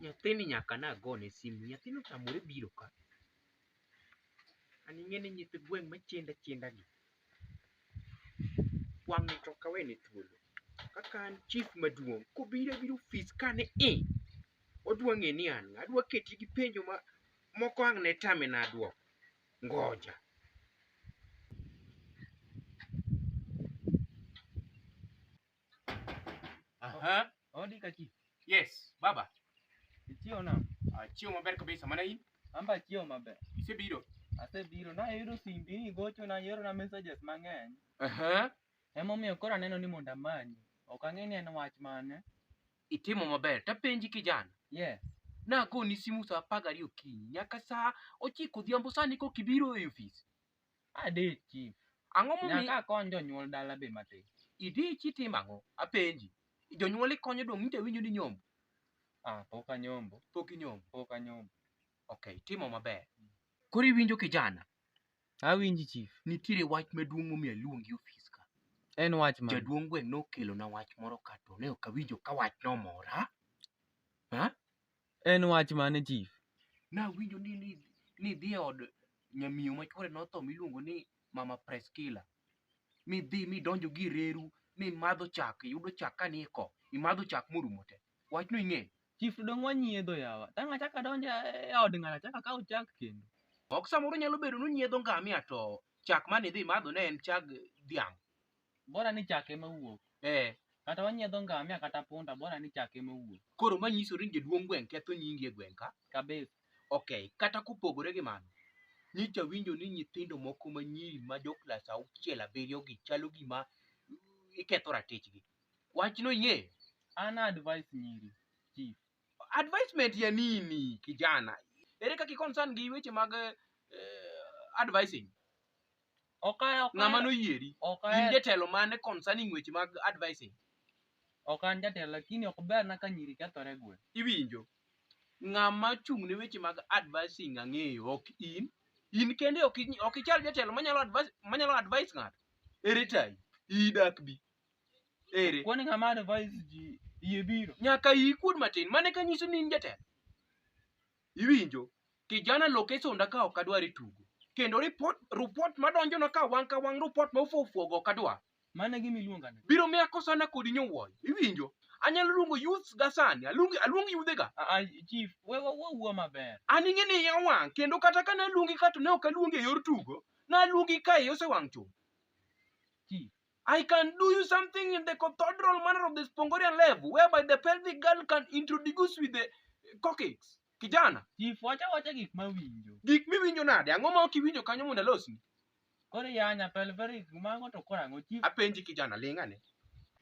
nyathini nyaka nagone simu nyathino otamore biro ka an ing'e ni nyithi gweng' machendo achienda gi wang' to kawene thuolo kaka an chief maduong' kobiro abiro ofis kane i odwa ng'e ni an ng'a adwa keti gi penjo ma moko ang' ne tame na dwoko ngoja Aha. Ondi kaki. Yes, baba. Ichiew na. Achiew maber kabisa. Mana in? Amba achiew maber. Isebiro? Asebiro. Nayudo simbi ni gocho na yero na messages mang'eny. Aha. Emomiyo koro aneno ni mondo amanyi. Ok ang'e ni en wach mane. Itimo maber. Tapenji kijana. Yes. Nagoni simu saa apar gariyo okinyi nyaka saa ochiko odhiambo sani kok ibiro e ofis. Ade chief. Ang'o momiyo Nyaka akony jonyuol dala be matin. idich itimo ang'o? Apenji. Jonyuol ikonyo dong' nyicha winjo ni nyombo. Ah, pok anyombo, Pok inyombo. pok anyombo. Okay, timo maber. Koro iwinjo kijana, Awinji chief. nitiere wach maduong' momiyo aluongi e ofis ka. En wach mane? Jaduong' gweng' nokelona wach moro ka to ne ok awinjo ka wachno omora. Ha? En wach mane chief? Nawinjo ni ni ni dhi e od nyamiyo ma chwore notho miluongo ni Mama Preskila. Mi dhi mi donjo gi reru mi madho chak, yudo chak ka ni ko, imadho chak morumo te. Wachno ing'e? Chief to dong' wanyiedho yawa. Tang' achak adonjo e od ng'ato achak akaw chak kendo. Ok samoro nyalo bedo ni unyiedho ngamia to chak mane idhi madho ne en chag dhiang'. bora ni chak ema wuok eh kata wanyiedho ngamia kata punda bora ni chak ema wuok koro manyiso ni jaduong' gweng' ketho nyingi e gweng' ka kabisa okay kata kopogore gi mano nyicha winjo ni nyithindo moko manyiri ma jo klas auchiel abiriyo gi chalo gima iketho ratichgi wachno ing'eyo an advice nyiri chief advisement ya nini kijana ere kaka i concern gi weche mag eh, advising Ok a- ok a- ng'ama noyieri ok in ahero- jatelo mane concerning weche mag advising ok an jatelo lakini ok berna ka nyiri kethore e gweng'. iwinjo ng'ama chung' ne weche mag advising ang'eyo ok in in kende ok in- ok ichal jatelo manyalo advise manyalo advise ng'ato ere tayi idak bi ere Kwani ng'ama advise ji yie biro. nyaka iyi kuod matin mane ka nyiso ni in jatelo Iwinjo? Kijana loke sonda ka ok adwar e tugo. Kendo report, report madonjo na ka wang' ka wang' report ma ufo ufuogo ok adwar. Mano e gima iluonga ni. Biro miya kosana kodi nyowuoyo. Iwinjo? Anyalo luongo youths ga sani. Aluongi, aluong yudhe ga. Ah, ah, chief, we wa- wawuo maber. An ing'e ni iya wang' kendo kata ka naluongi ka to ne ok aluongi e yor tugo. Naluongi ka iya osewang' chuth. Chief, I can do you something in the cathedral manner of the Spongorian level, whereby the pelvic girl can introduce with the coccyx. Kijana, Chief, wacha wacha gik mawinjo. gik miwinjo nade? Ang'o ma ok iwinjo kanyo mondo alosni? Koro yanya pelveris mago to koro ang'o chief? Apenji kijana, ling' ane.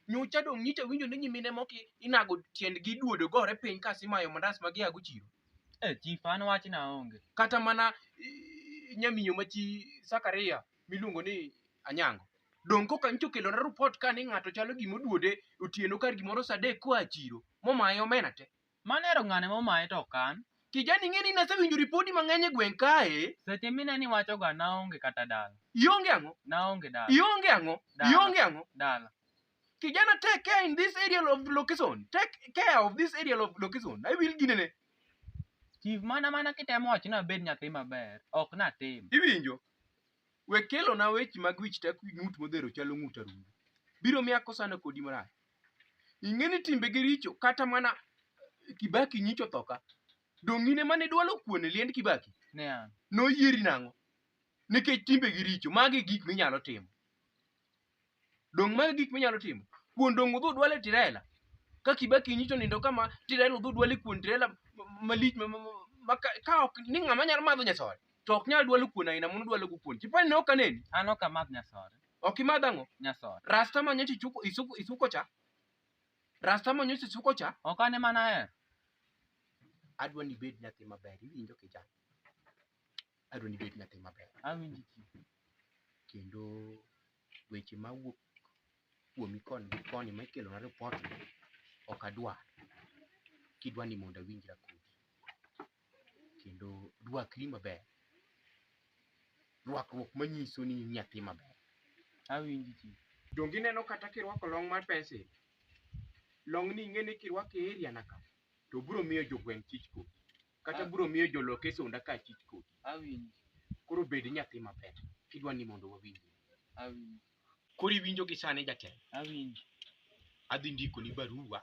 Nyocha dong' nyicha winjo ni nyimine moko i- inago tiendgi duodo gore piny ka simayo mandas ma giago chiro. Eh chief, an wachna onge. Kata mana i- nyamiyo ma chi Sakaria miluongo ni anyango donge koka nyicha okelona rupot ka ni ng'ato chalo gima oduode otieno kar gimoro saa adek koa e chiro momaye omena te Mano ero ng'ane momaye to okan. kijani ing'e ni nasewinjo ripodi mang'eny e gweng' kae Seche mine ni wachoga naonge kata dala. ionge ang'o Naonge dala. ionge ang'o Dala. ionge ang'o Dala. kijana take care in this area of location take care of this area of location i will ginene Chief mana mana kitemo wacho ni abed nyathi maber. Ok natim. iwinjo We kelona weche mag wich tek wi ng'ut modhero chalo ng'ut arungu. Biro miyo akosana kodi marach. Ing'e ni timbegi richo kata mana Kibaki nyicho thoka. Donge in ema nidwalo kuon e liend Kibaki? Ne an. Noyieri nang'o? Nikech timbegi richo, magi e gik minyalo timo. Dong' mano gik minyalo timo. Kuon dong' udhi udwal e tirela. Ka Kibaki nyicho nindo kama tirela udhi udwal e kuon tirela ma- malich ma- ma- ma- ma ka- ka ok ni ng'ama nyalo madho nyasore to ok nyal dwalo kuon aina mano dwalo go kuon. Chipani ne ok aneni. An ok amadh nyasore. Ok imadh ang'o? Nyasore. Rasta ma nyocha ichuko isuko isuko cha. Rasta ma nyocha isuko cha Ok an ema nahero. adwa ni ibed nyathi maber iwinjo kijana. Adwa ni ibed nyathi maber. Awinji ki. Kendo weche ma wuok kuomi koni gi koni ma ikelo na report ni ok adwa. Kidwa ni mondo awinjra kodi. Kendo rwakri maber. Rwakruok manyiso ni in nyathi maber. Awinji ki. Donge ineno kata kirwako long mar pencil? Long ni ing'e ni kirwake area na ka to biro miyo jogweng' chich kodi. kata biro miyo joloke sonda ka achich kodi Awinjo. koro bed nyathi mapet kidwa ni mondo wawinji Awinjo. koro iwinjo gi sani jatelo Awinjo. adhi ndiko ni barua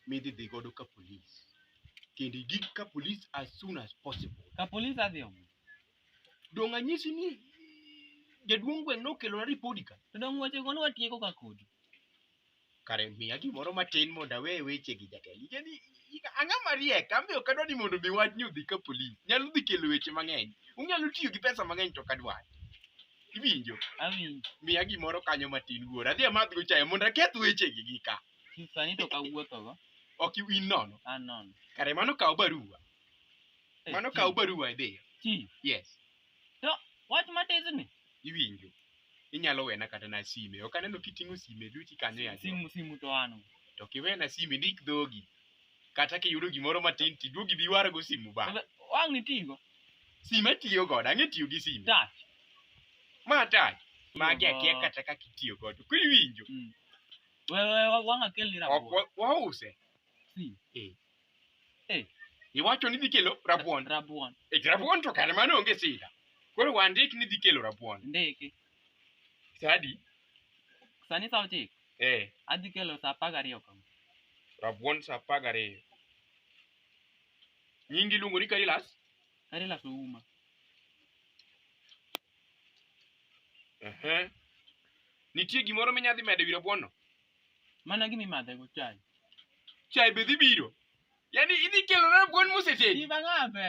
midhi dhi godo ka polis kendo igik ka polis as soon as possible Ka polis adhi omo. dong' anyisi ni jaduong' gweng' nokelona ripodi ka To dong' weche go nwatieko ka kodi. Kare miya gimoro matin mondo awe weche gi jatelo. Ike ni ika- ang'a mariek, an be ok adwa ni mondo mi wachni odhi ka polis. Nyalo dhi kelo weche mang'eny. Unyalo tiyo gi pesa mang'eny to ok adwar. Iwinjo? Awinjo. Miya gimoro kanyo matin wuora. Adhi amadhgo chae mondo aketh wechegi gi ka. Sani to kawuothogo. Ok in nono. An nono. Kare mano kaw barua. Eh, Mano chief, kaw barua idhiyo. Chief, Yes. To wach matisni iwinjo inyalo wena kata na sime ok aneno kiting'o sime duti kanyo ya simu simu to ano. to kiwena sime ndik dhogi kata kiyudo gimoro matin tiduogi bi warago simu ba Wang' nitigo. sime tiyo godo ang'e tiyo gi sime Touch. ma tach magi akia Oho. kata kaka itiyo godo koro iwinjo Mm. Wewe wang' akelni ok rabolo. wa- wause Si. Eh. Eh. Iwacho ni idhi kelo rabuon. Rabuon. E rabuon to kare mano onge sida. Koro wandik ni idhi kelo rabuon. Ndiki. Sadi. Sani sa ochiko. Eh. Adhi kelo sa apar gariyo kama. Rabuon sa apar gariyo. Nyingi iluongo ni Karilas? Karilas Ouma. Ehe. Nitie gimoro minyadhi medo wi rabuon no? Mana gima imadhego chai. Chai be dhi biro. Yaani idhi kelo na rabuon mosetedi. Iba ng'abe.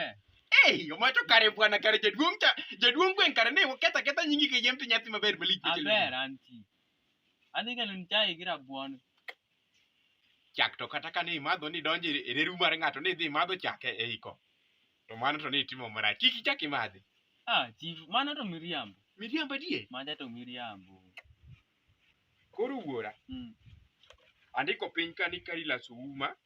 Ei, omoyo to kare bwana kare jaduong' cha jaduong' gweng' kare ne oketho aketha nyingi kayiem to nyathi maber malich be kelo. Aber anti. Adhi kelo ni chai gi rabuon. Chak to kata kane imadho ni donjo e reru mar ng'ato ni idhi imadho chak e e iko. To mano to ne itimo marach. Kik ichak imadhi. Ah, chief, mano to miriambo. Miriambo adier. Mada to miriambo. Koro wuora, Mm. andiko piny ka ni kari laso uma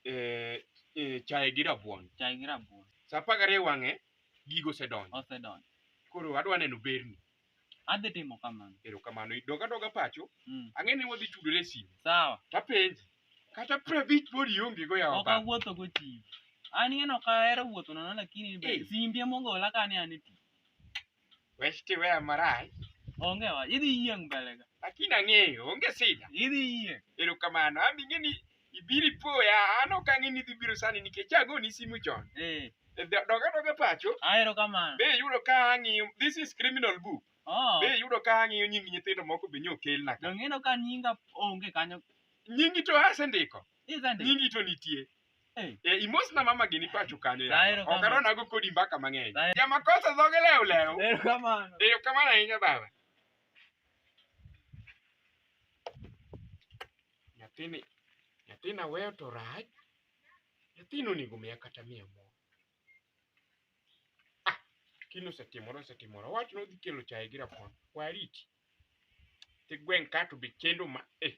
eh, eh, chae gi rabuon. Chai gi rabuon. Sa apar gariyo wang'e, gigo osedonjo. Osedonjo. Koro adwa neno berni. Adhi timo kamano. Erokamano. Dog adoga pacho, Mm. ang'e ni wadhi tudore e simu. Sawa. Tapenji, kata prabich pod iongego yawa Ok baba. awuotho go chief. An ing'e ni ok ahero wuotho nono lakini be Eh. simbi emogola kane an e tich. Westi weya marach. Onge wa, idhi yieng' mbele ka. Lakini ang'eyo, onge sida. Idhi yieng'. Erokamano, an ing'e ni ibiro ipoya, an ok ang'e ni idhi biro sani nikech agoni simu chon. Eh. E, do- Doga doga pacho, Ah, erokamano. be iyudo ka ang'iyo, this is criminal book. Oh. Be iyudo ka ang'iyo nying nyithindo moko be nyo okelna ka. Donge ineno ka nyinga onge kanyo. Nyingi to asendiko, Isendiko. nyingi to nitie. Eh, imosi na mama gini pacho kanyo ya. Daero kama. Okaro nago kodi mbaka mang'eny. Daero. Ya makosa dhoge leo leo. Erokamano. Eyo kamano ahinya baba. Nyathini, nyathina weyo to rach. Nyathino onego miya kata miya moro. Ah, kino osetimore osetimore. Wach no dhi kelo chaye gi rabuon. Wariti. Ti gweng' ka to be chendo ma eh.